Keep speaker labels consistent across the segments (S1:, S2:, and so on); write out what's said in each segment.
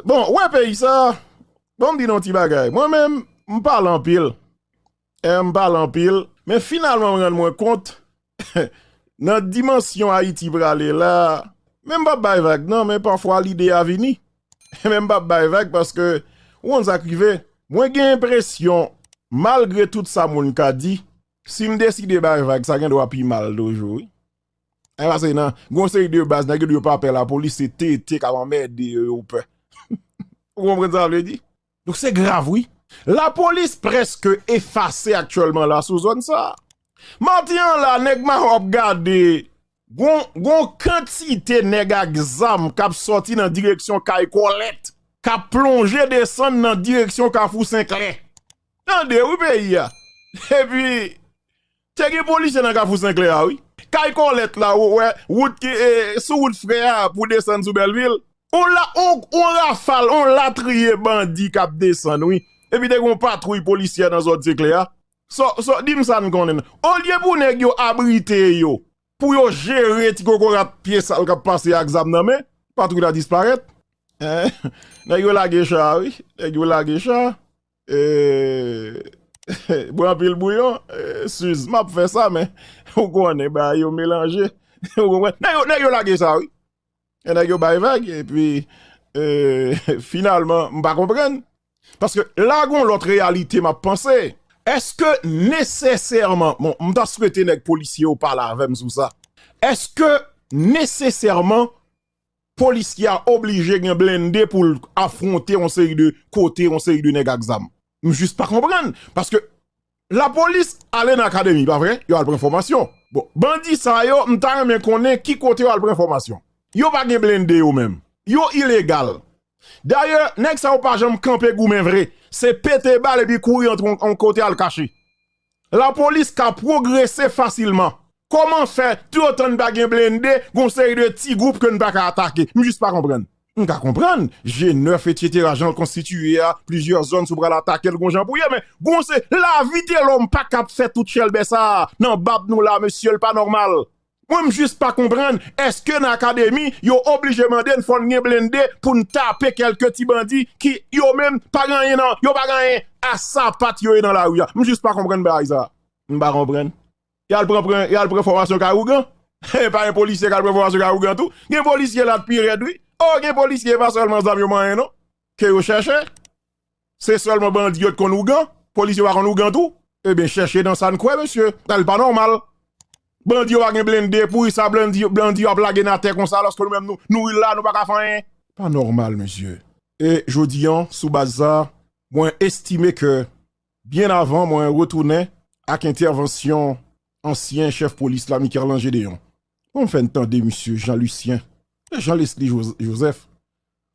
S1: Bon, ou wè peyi sa, bon m di nou yon ti bagay, mwen menm m pale anpil, m pale anpil, men finalman m rann mwen kont nan dimansyon Ayiti prale la, men m p ap bay vag nan, men pafwa lide a vini, men m p ap bay vag paske ou konn sa k rive, mwen gen enpresyon malgre tout sa moun ka di, si m deside bay vag sa gen dwa pi mal toujou wi. Ay pase nan, gen yon seri de baz nèg yo di yo pa pè lapolis se TT kap anmède yo yo pè. Ou konprann sa vle di? Donk se grav wi. Lapolis prèske efase aktyèlman la sou zòn sa. Maten an la nèg Mayo ap gade gon gon kantite nèg ak zam kap sòti nan direksyon kay Kòlèt kap plonje desann nan direksyon kafou Senklè. Tande wi peyi a. Epi Te gen polisye nan kafou senklè a wi. Kay kòlèt la ou wè wout ki sou wout frè a pou desann sou bèlvil. On rafal on latriye bandi kap desann wi epi te gen yon patwouy polisyè nan zòn senklè a so dim sa n konnen nan olye pou nèg yo abrite yo pou yo jere ti kokorat pye sal kap pase ak zam nan men patwouy la disparèt nèg yo lage cha wi nèg yo lage cha Eeeeee bwe anpil bouyon Suze map fè sa men ou konnen bagay yo melanje ou konprann nèg yo lage sa wi nèg yo bay vag epi eeeeee finalman m pa konprann paske la gon lòt reyalite map panse èske nesesèman bon m ta swete nèg polisye yo pale avèm sou sa èske nesesèman polis ki a oblije gen blende poul afronte yon seri de kote yon seri de nèg ak zam. M jis pa konprann paske la polis ale nan akademi pa vre yo al pran fòmasyon bon bandi sa yo m ta renmen konnen ki kote yo al pran fòmasyon yo pa gen blende yo menm yo ilegal dayè nèg sa yo pa janm kanpe goumen vre se pete bal epi kouri antre yon kote al kache. Lapolis ka pwogrese fasilman. Koman fè tou otan n pa gen blende gon seri de ti gwoup ke n pa ka atake? M jis pa konprann. M ka konprann G9 etsetera jan l konstitiye a plizyè zòn si w pral atake l gon jan pou ye men gon se lavi telòm pa ka ap fè tout chèlbè sa a nan bab nou la mesye l pa nòmal. Mwen m jis pa konprann eske nan akademi yo oblije mande n fò n gen blende pou n tape kelke ti bandi ki yo menm pa gen anyen nan yo pa gen anyen a sapat yo ye nan lari a m jis pa konprann bagay sa m pa konprann y al pran pran y al pran fòmasyon kay ougan e pa gen polisye k al pran fòmasyon kay ougan tou gen polisye la t pi rèd wi o gen polisye e pa sèlman zam yo manyen non ke yo chèche. Se sèlman bandi yo t konn ougan, polis yo pa konn ougan tou? Ebyen chèche nan sa n kwè mesye, bagay pa nòmal. Bandi yo pa gen blende, poukisa bandi yo ap lage n atè konsa alòske nou menm nou la nou pa ka fè anyen? Pa nòmal mesye. E jodi an sou baz sa mwen estime ke byen avan mwen retounen ak entèvansyon ansyen chèf polis la Mikerlan Gedeon pou m fè n tande misye Jean Lucien e Jean Lesly Joseph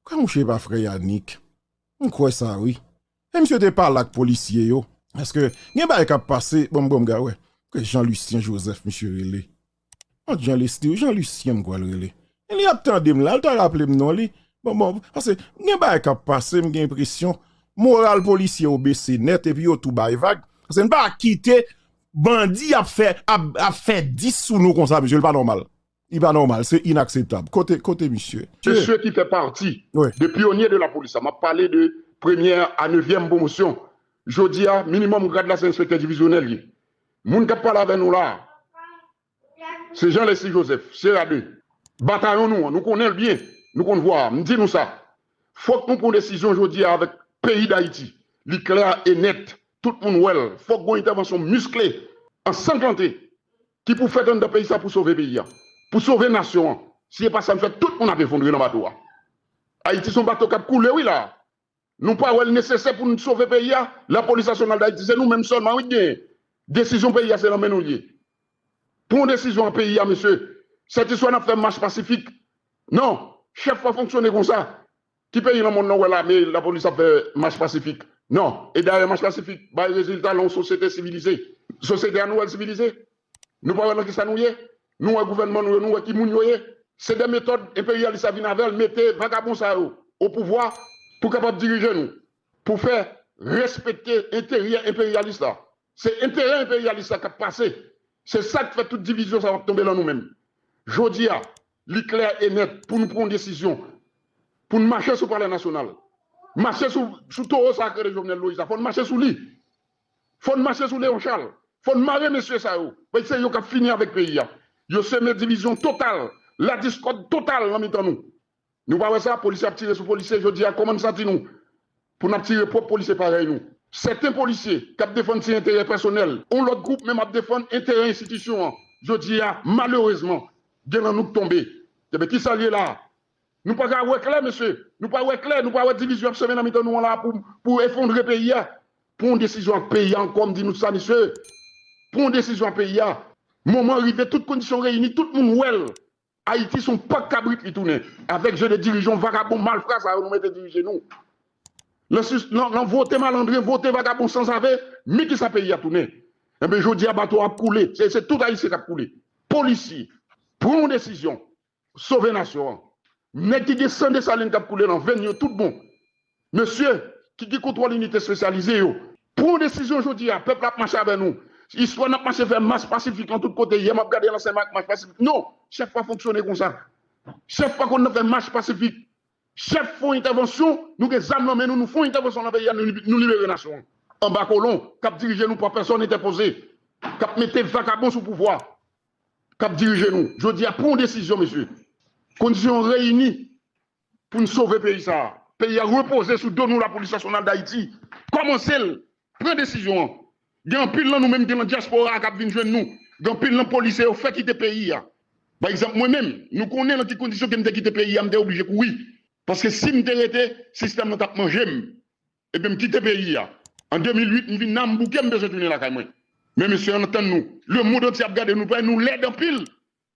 S1: Kwè mouche pa frè Yanick. M kwè sa wi. E misye te pale ak polisye yo. Paske gen bagay kap pase bon bon mga wè ke Jean Lucien Joseph misye rele. An t Jean Lesly wi Jean Lucien m kwèl rele. E li ap tande m la li ta raple m non li. Bon bon pase gen bagay kap pase m gen enpresyon moral polisye yo bese nèt epi yo tou bay vag. Pase n pa kite bandi ap fè ap fè 10 sou nou konsa mesye li pa nòmal. Li pa nòmal, se inakseptab. Kote, kote misye? Mesye ki fè pati
S2: de pyonye de lapolis la, m ap pale de premyè a nevyèm pwomosyon, jodi a, minimòm grad la se enspektè divizyonèl li ye. Moun k ap pale avè nou la a, se Jean Leslie Joseph, Sierra 2. Batayon nou an, nou konnen l byen, nou konn vwa a. M di nou sa, fòk nou pran desizyon jodi a avèk peyi Dayiti. Li klè e nèt, tout moun wè l, fòk gon entèvansyon miskle, ansanglante, Ki pou fèt anndan peyi sa pou sove peyi a. Pou sove nasyon an. Si e pa sa n fè tout moun ap efondre nan bato a. Ayiti son bato kap koule wi la a. Nou pa wè l nesesè pou n sove peyi a. Lapolis nasyonal dayiti se nou menm sèlman wi k genyen. Desizyon peyi a se nan men nou l ye. Pran yon desizyon an peyi a mesye. Sètiswa n ap fè mach pasifik. Non. Chèf pa fonksyone konsa. Ki peyi nan monn nan wè lame, lapolis ap fè mach pasifik? Non. E dayè mach pasifik bay rezilta lan yon sosyete sivilize. Sosyete a nou wè l sivilize? Nou pa wè lan kisa nou ye? Nou wè gouvènman nou yo, nou wè ki moun yo ye? Se de metòd enperyalis la vin avè l mete vagabon sa yo opouvwa pou kapab dirije nou, pou fè respekte enteryè enperyalis la. Se enterè enperyalis la k ap pase. Se sa k fè tout divizyon sa yo ap tonbe lan nou menm jodi a. Li klè e nèt pou nou pran desizyon pou n mache sou palè nasyonal, mache sou towo sa a k rele Jovenel Moïse la, fò n mache sou li, fò n mache sou Léon Charles, fò n mare mesye sa yo, paske se yo k ap fini avèk peyi a. Yo seme divizyon total, ladiskòd total nan mitan nou. Nou pa wè sa, polisye ap tire sou polisye jodi a, kòman n santi nou? Pou nap tire pwòp polisye parèy nou. Sèten polisye kap defann ti enterè pèsonèl yon lòt gwoup men map defann enterè enstitisyon an jodi a malerezman gen lan nou k tonbe enben kisa l ye la a? Nou pa ka wè klè mesye? Nou pa wè klè? Nou pa wè divizyon ap semen nan mitan nou an la a pou pou efondre peyi a? Pran yon desizyon ak peyi a ankò m di nou sa mesye pran yon desizyon ak peyi a moman an rive tout kondisyon reyini tout moun wè l Ayiti son pak kabrit li tounen avèk je de dirijan vagabon malfra sa yo nou mete dirije nou lan vote malandren vote vagabon sanzave mi kisa peyi a tounen enben jodi a bato ap koule se tout ayisyen kap koule polisye pran yon desizyon sove nasyon an nèg ki gen san desalin kap koule lan venn yo tout bon Mesye ki gen kontwòl inite espesyalize yo, pran yon desizyon jodi a, pèp la ap mache avè nou. Istwa n ap mache fè mas pasifik lan tout kote, yè m ap gade lansèyman ak mach pasifik, non, chèf pa fonksyone konsa. Chèf pa konn nan fè mach pasifik. Chèf fè yon entèvansyon, nou gen zam nan men nou, nou fè yon entèvansyon nan peyi a, nou libere nasyon an anba kolon k ap dirije nou pa pèsòn entèpoze, k ap mete vakabon sou pouvwa, k ap dirije nou. Jodi a, pran yon desizyon mesye. Kondisyon yo reyini Pou n sove peyi sa a. Peyi a repoze sou do nou Lapolis Nasyonal Dayiti kòmanse l pran desizyon an Gen anpil nan nou menm gen nan dyaspora a k ap vin jwenn nou Gen anpil nan polisye yo fè kite peyi a Pa egzanp mwen menm nou konnen nan ki kondisyon ke m te kite peyi a m te oblije kouri paske si m te rete sistèm lan t ap manje m Ebyen m kite peyi a an 2008 m vin la m bouke m bezwen tounen lakay mwen Men mesye an tann nou Lemond antye ap gade nou nou lèd anpil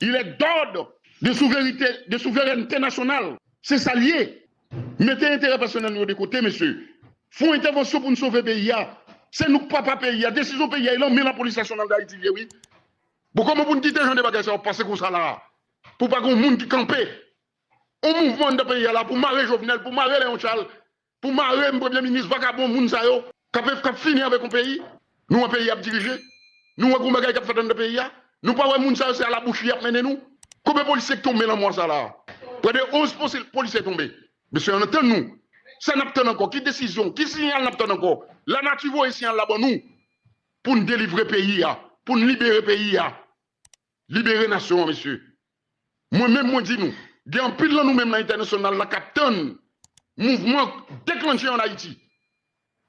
S2: Il est d'ordre de souverite, de souveraineté nationale, se sa l ye. Mete enterè pèsonèl nou yo de kote mesye. Fon entèvansyon pou n sove peyi a. Se nou k papa peyi a. Desizyon peyi a e lan men lapolis nasyonal Dayiti l ye wi. Bon kòman pou n kite jan de bagay sa yo ap pase konsa la a? Pou pa gen yon moun ki kanpe. Yon mouvman anndan peyi a la pou mare Jovenel, pou mare Leon Charles. Pou marem premye minis vagabon moun sa yo kap fini avek yon peyi nou wè peyi ap dirije nou wè gon bagay kap fèt anndan peyi a nou pa wè moun sa yo se a la bouche yap mennen nou konbyen polisye ki tonbe lan mwa sa la prè de 11 polisye tonbe mesye ann tann nou sa nap tann ankò ki desizyon ki siyal nap tann ankò la nati voye siyal la ban nou poun delivre peyi a poun libere peyi a. Libere nasyon an mesye. Mwen menm mwen di nou, gen anpil nan nou menm nan entènasyonal la kap tann mouvman deklannche an Ayiti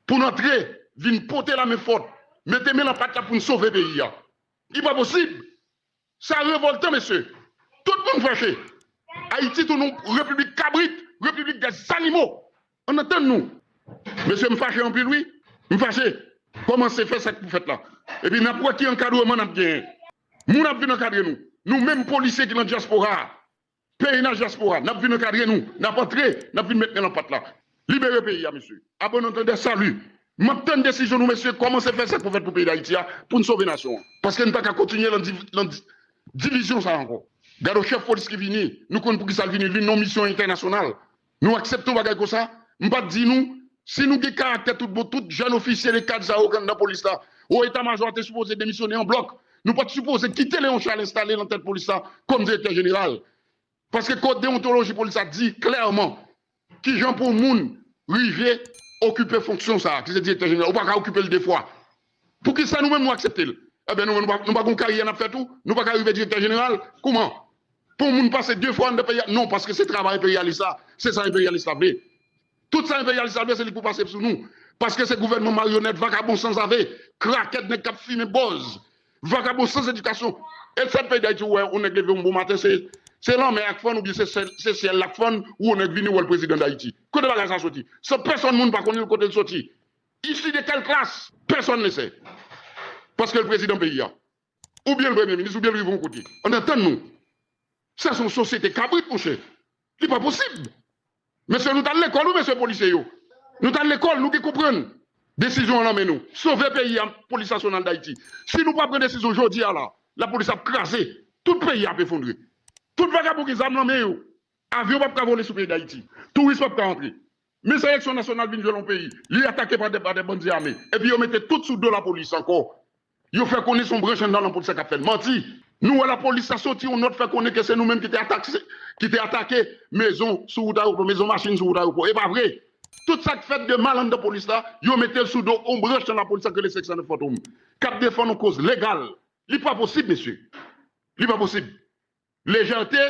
S2: pou n antre vin pote lamen fòt, mete men lan pat la pou n sove peyi a. Li pa posib! Sa revòltan mesye. Tout moun fache. Ayiti tounen yon repiblik kabrit, repiblik dè zanimo. Ann atann nou. Mesye m fache anpil wi. M fache. Kòmanse fè sa k pou fèt la. Epi n ap wè ki ankadreman n ap genyen. Moun ap vin ankadre nou. Nou menm polisye ki nan dyaspora a. Pnh dyaspora. N ap vin ankadre nou. N ap antre. N ap vin met men lan pat la. Libere peyi a mesye. A bon antandè, salut. M ap tann desizyon nou mesye. Kòmanse fè sa k pou fèt pou peyi Dayiti a pou n sove nasyon an. Paske n pa ka kontinye lan divizyon sa a ankò. Gad on chèf polis ki vini. Nou konn pou ki sa l vini. Li nan yon misyon entènasyonal. Nou aksepte yon bagay konsa? M pa t di nou, si nou gen karaktè tout bon, tout jèn ofisye de kad sa yo k anndan polis la, wo eta majò a te sipoze demisyone an blòk. Nou pa t sipoze kite Léon Charles enstale nan tèt polis la kòm direktè jeneral. Paske kòd dewontoloji polis la di klèman ki jan pou yon moun rive okipe fonksyon sa a, ki se direktè jeneral. Ou pa ka okipe l de fwa. Poukisa nou menm nou aksepte l? Enben nou menm nou pa gon karyè nap fè tou? Nou paka rive direktè jeneral? Kouman pou yon moun pase 2 fwa anndan peyi a? Non paske se travay enperyalis la, se sa enperyalis la vle. Tout sa enperyalis la vle se li pou pase sou nou. Paske se gouvènman maryonèt, vakabon sanzave, krakèt, nèg kap fimen bòz, vakabon sans edikasyon. E sa peyi dayiti ou wè yon nèg leve yon bon maten se lanmè ak fann oubyen se syèl lap fann ou yon nèg vini wè l prezidan dayiti. Kote bagay sa soti? San pèsòn moun pa konnen l kote l soti. Issu de quelle classe? Personne ne sait. Paske l prezidan peyi a. Ou byen l premye minis, ou byen l rive yon kote. An antann nou. Sa se yon sosyete kabrit monchè. Li pa posib. Mesye nou t al lekòl wi mesye polisye yo. Nou t al lekòl, nou gen konprann. Desizyon an lan men nou. Sove peyi a, Polis Nasyonal Dayiti. Si nou pa pran desizyon jodi a la, lapolis ap kraze. Tout peyi a ap efondre. Tout vagabon gen zam lan men yo. Avyon p ap ka vole sou peyi Dayiti. Touris p ap ka antre. Men sa eleksyon nasyonal vin jwenn yon peyi, li atake pa de bandi ame, epi yo mete tout sou do lapolis ankò. Yo fè konnen se yon branch anndan lanpolis la k ap fè l. Manti! Nou wè lapolis la soti yon nòt fè konnen ke se nou menm ki te atake mezon sou wout ayewopò, mezon machin sou wout ayewopò. E pa vre! Tout sa k fèt de mal anndan polis la, yo mete l sou do yon branch nan lapolis la k rele 509 Fantom, k ap defann yon koz legal. Li pa posib, mesye! Li pa posib! Lejète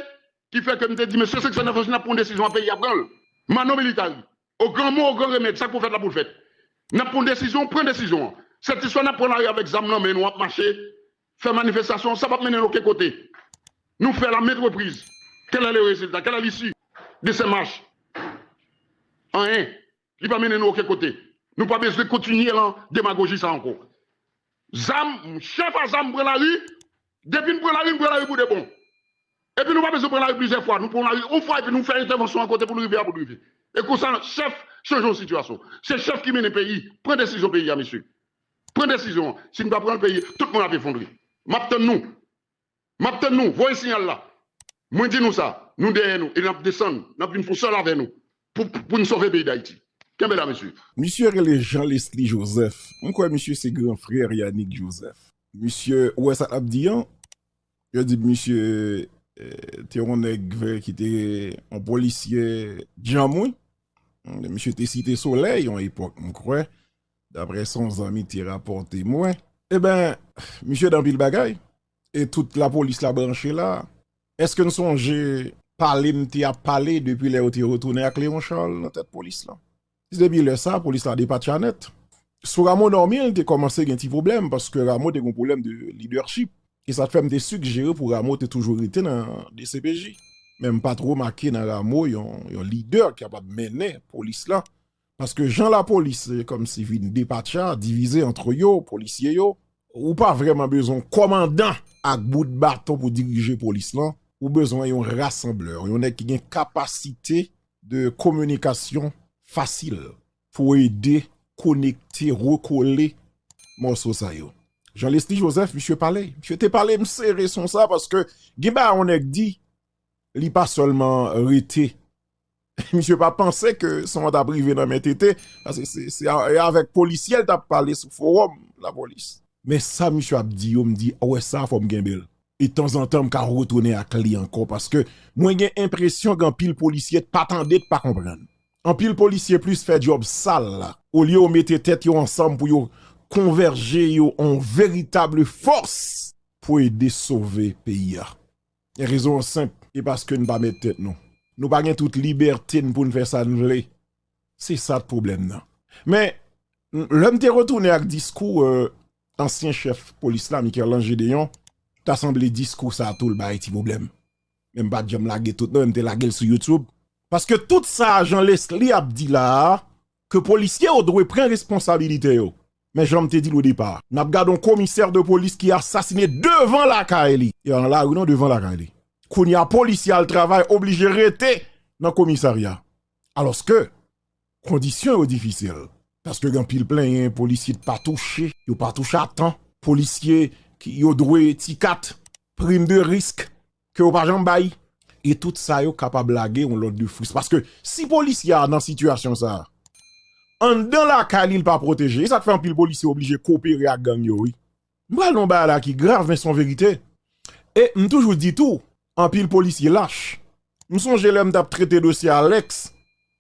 S2: ki fè ke m te di mesye seksyon nèf la si n ap pran yon desizyon an peyi a pran l. Manno Militari, O gran mo, o gran remèd, sa k pou fèt la pou l fèt. N ap pran yon desizyon, pran desizyon an. Se ti swa n ap pran lari avèk zam nan men nou ap mache, fè manifestasyon, sa p ap mennen n oken kote. Nou fè l a ment repriz. Kèlè le rezilta? Kèlè lisi de se mach? Anyen. Li pa mennen nou oken kote. Nou pa bezwen kontinye lan demagoji sa anko. Zam, chèf a zam pran lari, depi n pran lari, n pran lari pou de bon. Epi nou pa bezwen pran lari plizyè fwa. Nou pran lari on fwa epi nou fè entèvansyon an kote pou n rive a pou n rive. E konsa chèf chanje yon sitiyasyon. Se chèf ki mennen peyi. Pran desizyon peyi a mesye. Pran desizyon an. Si n pa pran l peyi tout moun ap efondre. M ap tann nou. Map tann nou voye siyal la mwen di nou sa nou dèyè nou e nap desann nap vin fon sèl avè nou pou n sove peyi dayiti kenbe la mesye. Misye rele Jean
S1: Lesly Joseph, m kwè misye se gran frè Yanick Joseph. Misye ou wè sa lap di an, yo di misye te yon nèg vè ki te yon polisye djanm wi. Misye te site solèy yon epòk m kwè, Daprè son zanmi te rapòte mwen. Eben, misye dan pil bagay, e tout lapolis la branche la. Eske n sonje pale m te ap pale depi lè yo te retounen ak Leon Charles nan tèt polis la? Se depi lè sa polis la depatcha nèt. Sou Rameau Normil te kòmanse gen ti pwoblèm paske Rameau te gen yon pwoblèm de lidèchip. E sa k fè m te sigjere pou Rameau te toujou rete nan dcpj. Men m pa t remake nan Rameau yon lidè ki kapab mennen polis la Paske jan lapolis se kòmsi vin depatcha, divize antre yo, polisye yo, ou pa vrèman bezwen yon kòmandan ak bout baton pou dirije polis lan, ou bezwen yon rasanblè, yon nèg ki gen kapasite de kominikasyon fasil pou ede konekte, rekole mòso sa yo. Jan Lesly Joseph, misye pale, misye te pale m sere son sa paske gen bagay yon nèg di, li pa sèlman rete Misye pa panse ke son an tap rive nan men TT, se avèk polisyèl tap pale sou forom la polis. Men sa misye ap di yo m di wè sa fò m kenbe l. E tanzantan m ka retounen ak li ankò paske mwen gen enpresyon gen anpil polisye t pa tande t pa konprann. Anpil polisye plis fè djòb sal la. Olye yo mete tèt yo ansanm pou yo konvèje yo an veritab fòs pou ede sove peyi a. Rezon an senp, e paske n pa mèt tèt nou. Nou pa gen tout libète n pou n fè sa n vle. Se sa k pwoblèm nan. Men, lè m te retounen ak diskou ansyen chèf polis la, Mikerlan Jedeyon, ta sanble diskou sa tou l bay ti pwoblèm. Men m pa t janm lage tout non, m te lage l sou Youtube. Paske tout sa Jean Leslie ap di la a, ke polisye yo dwe pran responsabilite yo. Men janm te dil odepa nap gad yon komisè de polis ki asasine devan lakay li e nan lari non devan lakay li kounya polisye al travay oblije rete nan komisarya alòske kondisyon yo difisil paske gen anpil plenyen polisye ki pa touche yo pa touche a tan polisye yo dwe ti kat prim de risk ke yo pa janm bay e tout sa yo kapab lage yon lòt de fris paske si polisye a nan sitiyasyon sa anndan lakay li li pa pwoteje e sak fè anpil polisye oblije kopere ak gang yo wi m pral nan yon bagay la ki grav men son verite e m toujou di tou anpil polisye lach m sonje lè m tap trete dosye Alex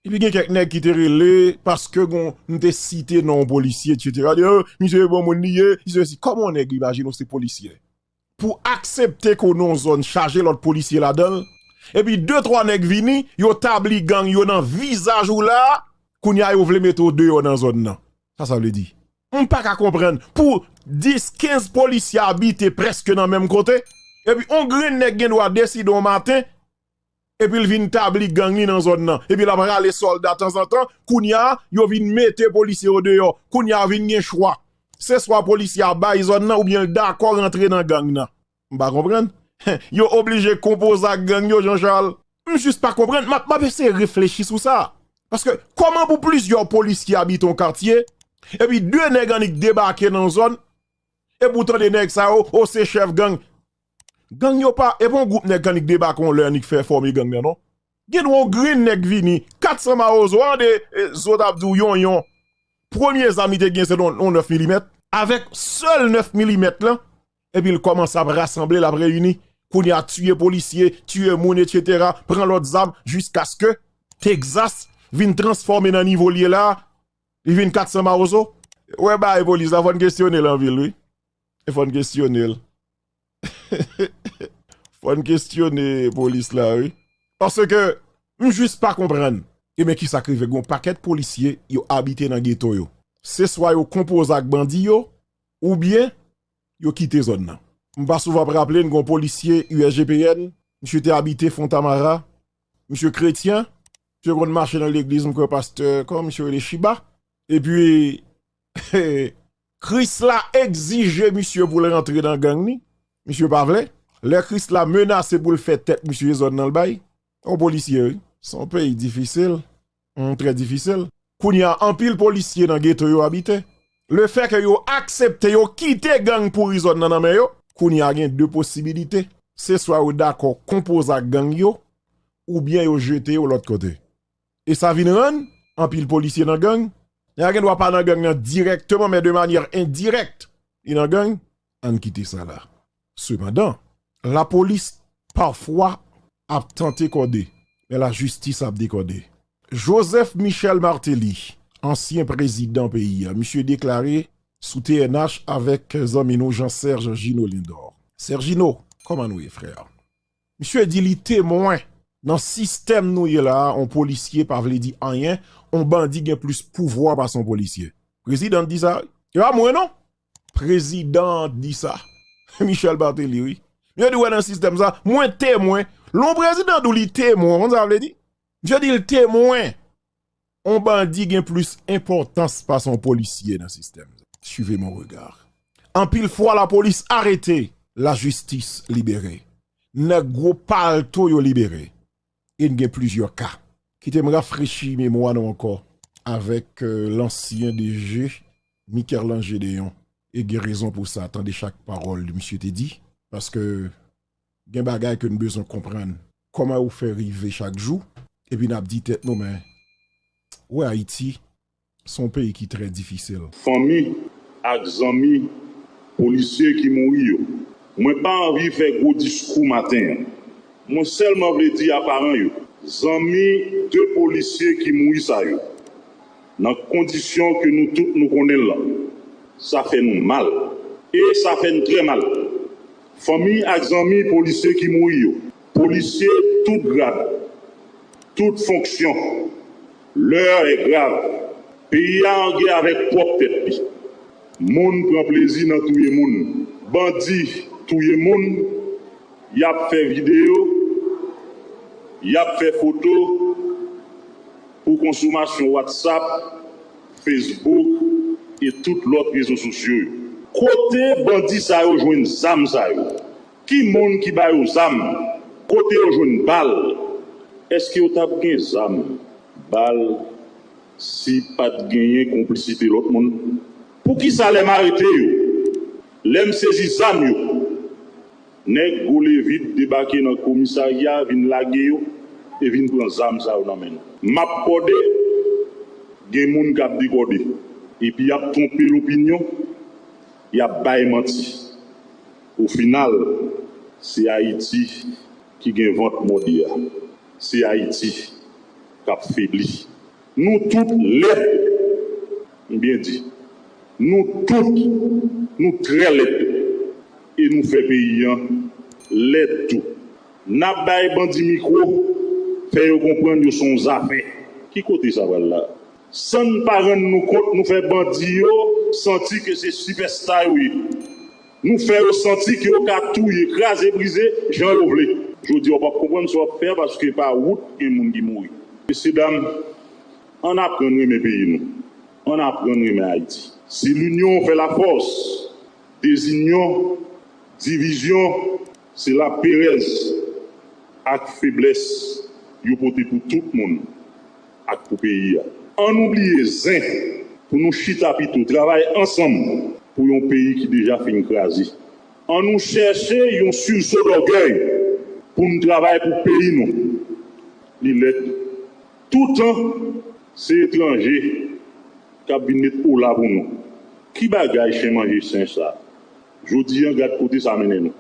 S1: epi gen kèk nèg ki te rele paske gon m te site non yon polisye etc misye bon moun li ye li sesi kòman yon nèg imajine w se polisye. pou aksepte ke w nan yon zòn chaje lòt polisye ladan l, epi de twa nèg vini, yo tabli gang yo nan vizaj ou la, kounye a yo vle mete w deyò nan zòn nan. Sa sa vle di? M pa ka konprann, pou 10, 15 polisye abite prèske nan menm kote, epi yon grenn nèg gen dwa deside yon maten, epi l vin tabli gang li nan zòn nan epi l ap rale sòlda tanzantan kounye a yo vin mete polisye yo deyò kounye a vin gen chwa se swa polisye a bay zòn nan oubyen l dakò rantre nan gang nan m pa konprann yo oblije konpoze ak gang yo Jean Charles. M jis pa konprann, m ap eseye reflechi sou sa paske kòman pou plizyè polisye abite yon katye epi 2 nèg annik debake nan zòn epi w tande nèg sa yo o se chèf gang Gang yo pa epa yon gwoup nèg annik debake yon lè annik fè fòme gang nan non. Gen dwa yon grenn nèg vini, 400 mawozo an de zo t ap di w yon yon premye zam li te gen se t yon 9 milimèt. Avèk sèl 9 milimèt lan epi l kòmanse ap rasanble l ap reyini kounye a tiye polisye, tiye moun etsetera, pran lòt zam jiskaske Texas vin transfòme nan nivo l ye la a li vin 400 mawozo. Wè bagay polis la fò n kesyone l anpil wi. E fòn kestyonel. Fòn kestyone polis la wi. Paske m jis pa konprann. Ebyen kisa k rive gon pakèt polisye yo abite nan geto yo. Se swa yo konpoze ak bandi yo oubyen yo kite zòn nan. M pa souvan ap raple n gon polisye USGPN misye te abite Fontamara misye kretyen misye konn mache nan legliz m kwè pastè kòman misye rele Shiba epi Krisla egzije misye pou l rantre nan gang li, misye pa vle, lè Krisla menase pou l fè tèt misye zòn nan l bay, yon polisye wi, se yon peyi difisil, humm trè difisil. Kounya anpil polisye nan geto yo abite, le fè ke yo aksepte yo kite gang pouri zòn nan nan men yo, kounya gen 2 posibilite, se swa yo dakò konpoze ak gang yo, oubyen yo jete yo lòt kote. E sa vin rann anpil polisye nan gang. Nèg la gen dwa pa nan gang nan dirèkteman men de manyè endirèkt li nan gang. Ann kite sa la. Sepandan, lapolis pafwa ap tante kòde, men lajistis ap dekòde. Joseph Michel Martelly, ansyen prezidan peyi a, misye deklare sou TNH avèk zanmi nou Jean Serge Gino Lindor. Sergino, kòman nou ye frè? Misye di li temwen, nan sistèm nou ye la a on polisye pa vle di anyen, on bandi gen plis pouvwa pase on polisye. Prezidan an di sa wi. E pa mwen non. Prezidan an di sa. Michel Martelly wi. Misye di wè nan sistèm sa, mwen temwen. Lè on prezidan di w li temwen, ou konn sa vle di? Misye di l temwen. On bandi gen plis enpòtans pase on polisye nan sistèm sa. Suivez mon regard. Anpil fwa lapolis arete, lajistis libere. Nèg gwo palto yo libere. E n gen plizyè ka. Kite m rafrechi memwa nou ankò avèk lansyen DG Mikerlan Gedeon. E gen rezon pou sa, tande chak pawòl misye te di. Paske Gen bagay ke n bezwen konprann. Kòman yo fè rive chak jou? Epi n ap di tèt nou men, wè Ayiti se yon peyi ki trè difisil. Fanmi
S3: ak zanmi polisye ki mouri yo. Mwen pa anvi fè gwo diskou maten an. Mwen sèlman vle di a paran yo, zanmi 2 polisye ki mouri sa yo, nan kondisyon ke nou tout nou konnen l lan, sa fè nou mal. E sa fè n trè mal. Fanmi ak zanmi polisye ki mouri yo. Polisye tout grad, tout fonksyon, L'heure est grave, peyi a an gè avèk pwòp tèt li. Moun pran plezi nan touye moun. Bandi touye moun, y ap fè videyo, y ap fè foto pou konsomasyon WhatsApp. Facebook e tout lòt rezo sosyo yo. Kote bandi sa yo jwenn zam sa yo? Ki moun ki ba yo zam? Kote yo jwenn bal? Eske yo tap gen zam, bal si pat genyen konplisite lòt moun? Poukisa lèm arete yo, lèm sezi zam yo, Nèg gwo levit debake nan komisarya vin lage yo e vin pran zam sa yo nan men nou. Map kòde, gen moun kap dekòde. Epi yap twonpe lopinyon, yap bay manti. O final, se Ayiti ki gen vant mòde a. Se Ayiti kap febli. Nou tout lèd m byen di nou tout nou trè lèd e nou fè peyi an lèd tou nap bay bandi mikro fè yo konprann yo son zafè ki kote sa pral la sann pa rann nou kont nou fè bandi yo santi ke se sipèsta yo ye. Nou fè yo santi ke yo ka touye, kraze brize jan yo vle. Jodi a w pap konprann sa w ap fè a paske pa wout gen moun ki mouri. Mesye dam, ann aprann renmen peyi nou. Ann aprann renmen Ayiti. Si l'union fait la force, dezinyon, divizyon. Se la perèz ak feblès yo pote pou tout moun ak pou peyi a. An nou bliye zen pou nou chita pito travay ansanm pou yon peyi ki deja fin kraze. An nou chèche yon sursaut d'orgueil pou n travay pou peyi nou. Li lèd toutan se etranje k ap vin met ola pou nou. Ki bagay chen manje sen sa? Jodi an gad kote sa mennen nou.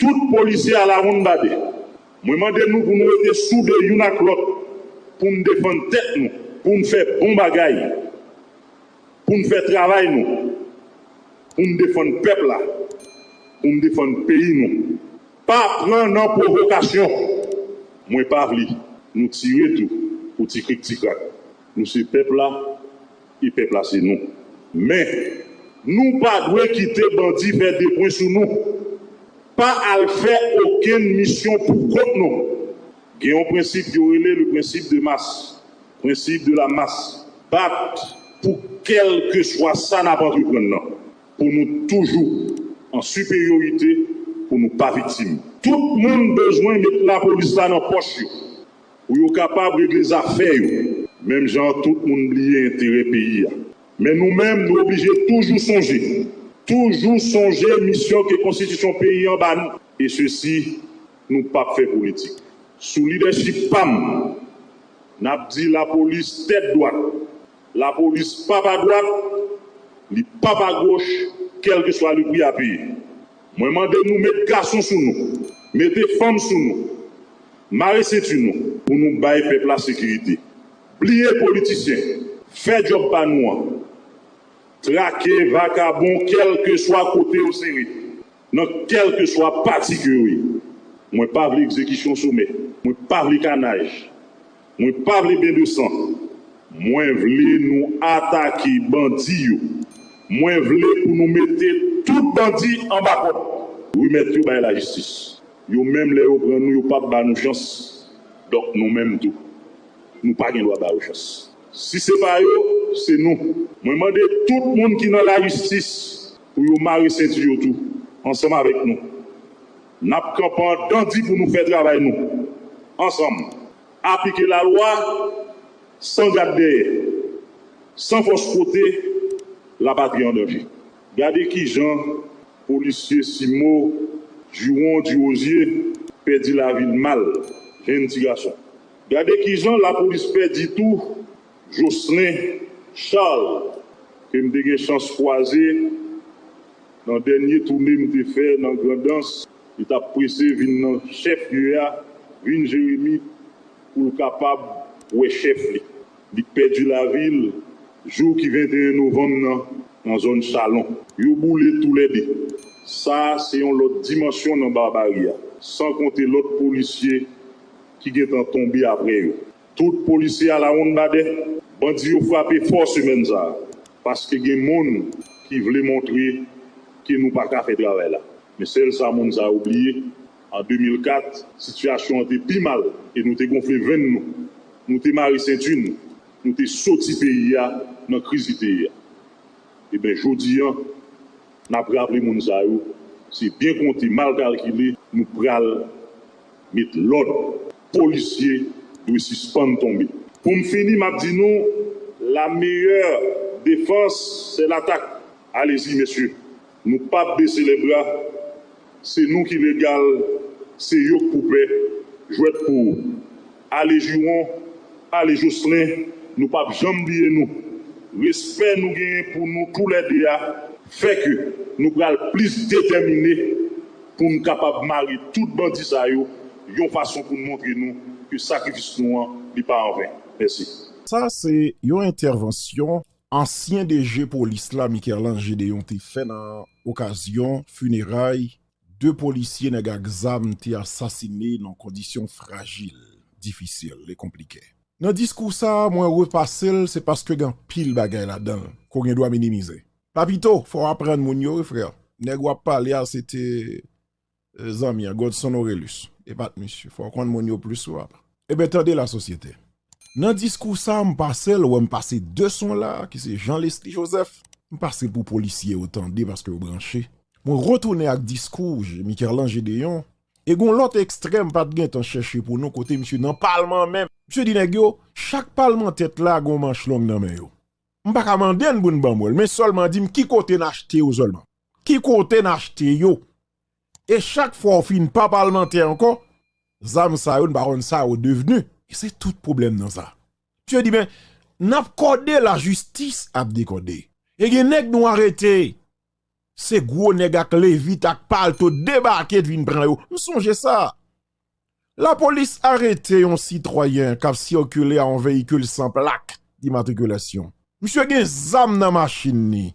S3: Tout polisye alawonnbadè, mwen mande nou pou nou rete soude youn ak lòt pou n defann tèt nou, pou n fè bon bagay, pou n fè travay nou, pou n defann pèp la, pou n defann peyi nou. Pa pran nan pwovokasyon. Mwen pa vle nou tire tou pou ti krik ti krak. Nou se pèp la, E pèp la se nou. Men, nou pa dwe kite bandi fè de pwen sou nou. Pa al fè okenn misyon pou kont nou. Gen yon prensip yo rele le principe de masse, Prensip de la mas. Bat pou kèlkeswa sa n ap antreprann nan, pou nou toujou an siperyorite, pou nou pa viktim. Tout moun bezwen met lapolis la nan pòch yo. Pou yo kapab regle zafè yo. Menm jan an tout moun bliye enterè peyi a. Men nou menm nou oblije toujou sonje. Toujou sonje misyon ke konstitisyon peyi an ba nou. E sesi nou pap fè politik. Sou lidèchip pa m nap di lapolis tèt dwat. Lapolis pap a dwat, li pap a goch kèlkeswa le pri a peye. Mwen mande nou met gason sou nou, mete fanm sou nou, mare senti nou pou nou bay pèp la sekirite. Bliye politisyen, fè djòb pa nou an. Trake vakabon kèlkeswa kote yo sere, nan kèlkeswa pati ke yo ye. Mwen pa vle egzekisyon somè, mwen pa vle kanaj. Mwen pa vle ben de san. Mwen vle nou atake bandi yo. Mwen vle pou nou mete tout bandi anba kòd. Remèt yo bay lajistis. Yo menm lè yo pran nou yo pap ba nou chans donk nou menm tou nou pa gen dwa ba yo chans. Si se pa yo se nou. Mwen mande tout moun ki nan lajistis pou yo mare senti yo tou ansanm avèk nou. Nap kanpan dan di pou nou fè travay nou ansanm. Aplike la lwa san gad dèyè, san fòs kote la patri an danje. Gade kijan polisye Simo Juron Durosier pèdi lavi l mal, jenn ti gason. Gade kijan lapolis pèdi tou Jocelin Charles ke m te gen chans kwaze nan dènye toune m te fè nan Grandans, li t ap prese vin nan chèf lye a, vin Jeremi pou l kapab wè chèf li. Li pèdi lavi l jou ki 21 novanm nan, nan zòn Chalon. Yo boule toulède. Sa se yon lòt dimansyon nan barbari a, san konte lòt polisye ki gentan tonbe aprè yo. Tout polisye alawonnbadè, bandi yo frape fò semèn sa a paske gen moun ki vle montre ke nou pa ka fè travay la. Men sèl sa moun sa yo bliye, an 2004, sitiyasyon an te pi mal e nou te gonfle venn nou, nou te mare senti nou, nou te soti peyi a nan kriz li te ye a. Eben, jodi an, n ap raple moun sa yo, se byen konte, mal kalkile, nou pral met lòd. Polisye dwe sispann tonbe. Pou m fini map di nou la meyè defans se latak alezi mesye nou pap bese lè bra se nou ki legal se yo k pou pè jwèt pou ale jiron ale joslen nou pap janm bliye nou respè nou genyen pou nou tou lè 2 a fè ke nou pral plis detèmine. Pou n kapab mare tout bandi sa yo yon fason pou n montre nou ke sakrifis nou an li pa anven. Mèsi. Sa a se
S1: yon entèvansyon ansyen DG polis la Mikerlan Gedeon te fè nan okazyon fineray 2 polisye nèg ak zam te asasine nan kondisyon frajil, difisil e konplike. Nan diskou sa a mwen repase l se paske gen anpil bagay ladan l ke w gen dwa minimize. Papito fò w aprann moun yo wi frè, nèg w ap pale a se te zanmi an Godson Orelus e pa t misye, fò w konn moun yo plis wi papa. Eben tande la sosyete, nan diskou sa a m pase l wè m pase 2 son la a ki se Jean Lesly Joseph, m pase pou polisye yo tande paske yo branche, mwen retounen ak diskou Mikerlan Gedeon e gon lòt ekstrè m pa t gen tan chèche pou nou kote misye nan palman an menm misye di nèg yo chak palmantè t la gon manch long nan men yo. M pa ka mande n pou n ban mwen l, men sèlman di m ki kote n achte yo sèlman. Ki kote n achte yo? E chak fwa w fin pa palmantè ankò, zam sa yo n pa konn sa yo devni. E se tout pwoblèm nan sa. Misye di men, n ap kòde lajistis ap dekòde. E gen nèg nou arete, se gwo nèg ak levit ak palto debake vin pran yo. M sonje sa. Lapolis arete yon sitwayen k ap sikile a yon veyikil san plak dimatrikilasyon. Misye gen zam nan machin li.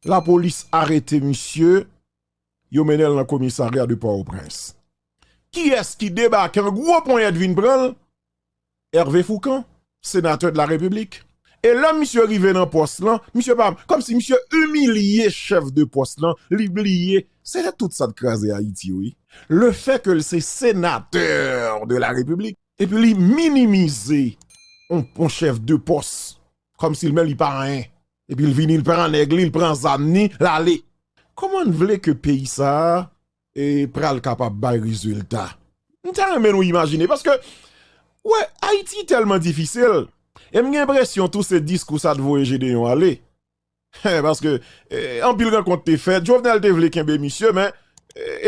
S1: Lapolis arete misye, yo mennen l nan komisarya de Pòtoprens. Kiyès ki debake an gwo ponyèt vin pran l? Hervé Fourcand, Sénateur de la République, e lè misye rive nan pòs lan, misye pa, kòm si misye imilye chèf de pòs lan, li bliye, se te tout sa t kraze Ayiti wi, le fè ke l se Sénateur de la République, epi li minimize yon chèf de pòs, kòm si l menm li pa anyen, epi l vini l pran nèg li, l pran zam ni, l ale. Kòman n vle ke peyi sa a. pral kapab bay rezilta m ta renmen nou imajine paske ou wè ayiti tèlman difisil e m gen enpresyon tou se diskou sa t voye jedeyon ale hein paske anpil rankont te fèt jovenel te vle kenbe misye men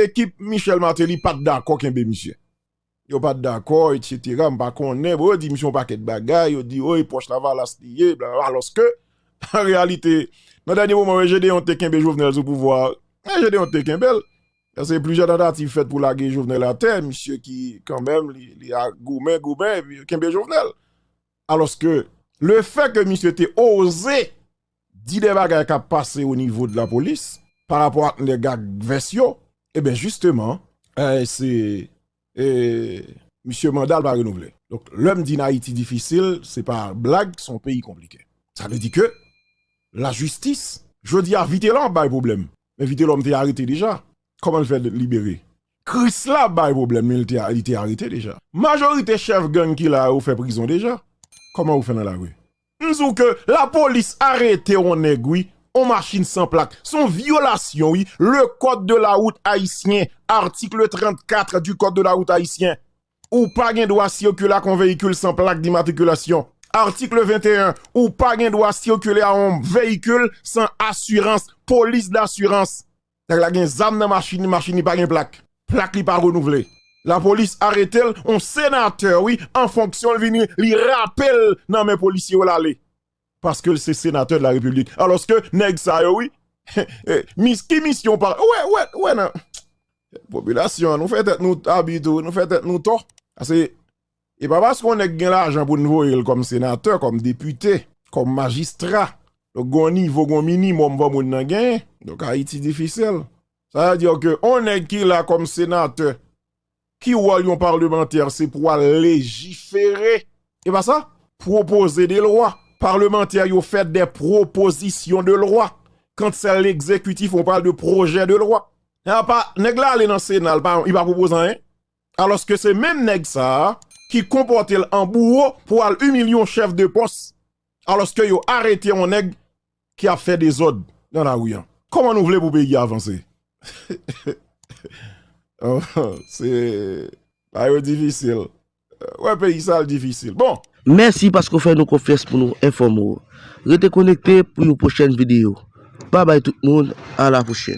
S1: ekip michel martelly pat dakò kenbe misye. Yo pat dakò etc m pa konnen bon yo di misye yon pakèt bagay yo di woy pòch lavalas li ye blablabla alòske an reyalite nan dènye moman yo Gedeon te kenbe Jovenel sou pouvwa a Gedeon te kenbel paske plizyè tantativ fèt pou lage Jovenel atè misye ki kanmenm li goumen goumen epi yo kenbe Jovenel alòske lefè ke misye te oze di de bagay kap pase o nivo de la polis pa rapò ak nèg ak vès yo e ben jisteman se e misye mandal pa renouvle donk lèm di nayiti difisil se pa blag son peyi konplike sa vle di ke la jistis jodi a vitelò ap bay pwoblèm men vitelòm te arete deja kòman l fè libere krisla ap bay pwoblèm men li te arete deja majorite chèf gang ki la yo fè prizon deja kòman yo fè nan lari. M di w ke la polis arete on nèg wi, on machin san plak. S on vyolasyon wi, le kòd de la wout ayisyen, article 34 du kòd de la wout ayisyen. Ou pa gen dwa sikile ak on veyikil san plak dimatrikilasyon. Article 21, ou pa gen dwa sikile a on veyikil san asirans, polis dasirans. Nèg la gen zam nan machin li, machin li pa gen plak, plak li pa renouvle. Lapolis aretel on senatè wi an fonksyon li vini li rapel nan men polisye yo lale paskel se senatè de la repiblik aloske nèg sa yo wi mis ki misyon pa wè nan popilasyon nou fè tèt nou abi tou nou fè tèt nou tò ase E pa paske yon nèg gen lajan pou n voye l kòm senatè, kòm depite, kòm majistra. Donk gen yon nivo, gen yon minimòm fò moun nan genyen. Donk Ayiti difisil. Sa vle di ke yon nèg ki la kòm senatè, ki wòl yon parlemantè se pou al lejifere, e pa sa? Pwopoze de lwa. Parlemantè yo fè de pwopozisyon de lwa. Kant sè legzekitif on pale de pwojè de lwa. Nèg la ale nan sena, li pa pwopoze anyen. Alòske se menm nèg sa a ki konpòte l an bouwo pou al imilye yon chèf de pòs alòske yo arete yon nèg ki ap fè dezòd nan lari an. Kòman nou vle pou peyi a vanse? Se la yo difisil. Ou wè peyi sa l difisil. Bon! Mèsi paske w fè
S4: nou konfyans pou nou enfòme w. Rete konekte pou yon pwochèn videyo. Babay tout moun, a la pwochèn.